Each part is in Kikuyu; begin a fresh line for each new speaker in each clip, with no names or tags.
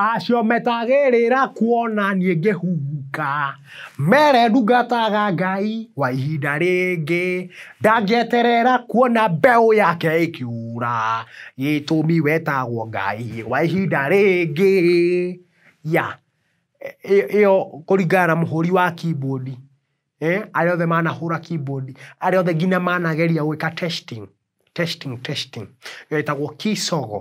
Acio metagĩrĩra kuona niĩ ngĩhuhuka, mere ndungataga Ngai wa ihinda rĩngĩ, ndangĩeterera kuona mbeũ yake ĩkĩũra, gĩtũmi we etagwo Ngai wa ihinda rĩngĩ. Yeah, ĩyo kũringana na mũhũri wa keyboard, arĩa othe manahũra keyboard, arĩa othe nginya manageria gwĩka testing, testing, testing, ĩyo ĩtagwo key sogo.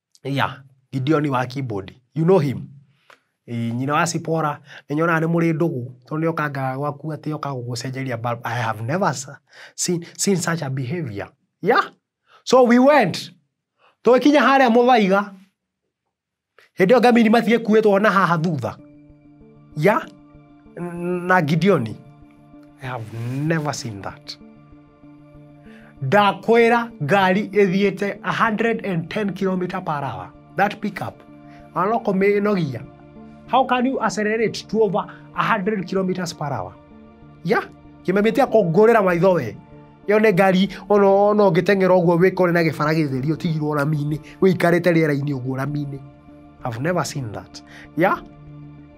Yeah, Gideon wa keyboard, you know him? Ĩĩ nyina wa Zipporah, nĩ nyonaga nĩ mũrĩ ndũgũ, tondũ nĩ okaga gwaku atĩ oka gũgũcenjeria bulb, I have never seen seen such a behaviour. Yeah, so we went, tũgĩkinya harĩa mũthaiga, hĩndĩ ĩyo ngamĩini matigĩkuĩtwo na haha thutha, yeah, na Gideon, I have never seen that. ndakwĩra ngari ĩthiĩte 110 kilometer per hour that pickup ona kũmĩnogia how can you accelerate to over 100 kilometers per hour ya kĩmemetia kũngũrĩra maitho we ĩyo nĩ ngari ona ona ũngĩteng'era ũguo wĩkore na gĩbara gĩtheri ũtigirwo rami-inĩ wĩikarĩte rĩera-inĩ ũguo rami-inĩ I've never seen that ya